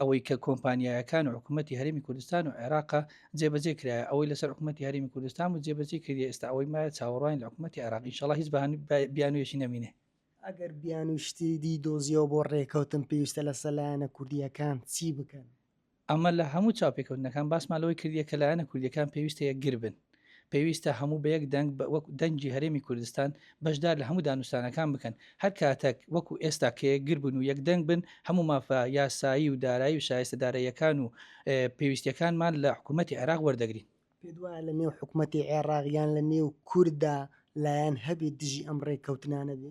ئەوەی کە کۆمپانیایەکان و حکوومەتتی هەرمی کوردستان و عێراقا جێبەجێ کرایە ئەوەی لەسەر حکوومەتتی هەرمی کوردستان و جێبەجێ کردی ئێستا ئەوەی مایە چاوەڕوان لە حکوومەتتی عراقی شڵ هیچ بیانوێشی نەمینێ ئەگەر بیان و شتی دی دۆزیەوە بۆ ڕێکەوتن پێویستە لە سەلایەنە کوردیەکان چی بکەن ئەمە لە هەموو چاپێکەوتنەکان باسمان لەوەی کردیە کە لایەنە کوردیەکان پێویستەیە گربن پێویستە هەموو بە یەک دەنگ بە وەک دەنگی هەرێمی کوردستان بەشدار لە هەموو دانوستانەکان بکەن، هەر کاتەک وەکو ئێستا کە یەکگر بن و یەک دەنگ بن هەموو مافە یاسایی و دارایی و شایستە دارەییەکان و پێویستیەکانمان لە حکوومەتی عێراق وەردەگرین. پێت وایە لە نێو حکوومەتی عێراق یان لە نێو کوردا لایەن هەبێت دژی ئەم ڕێککەوتنانە بێ؟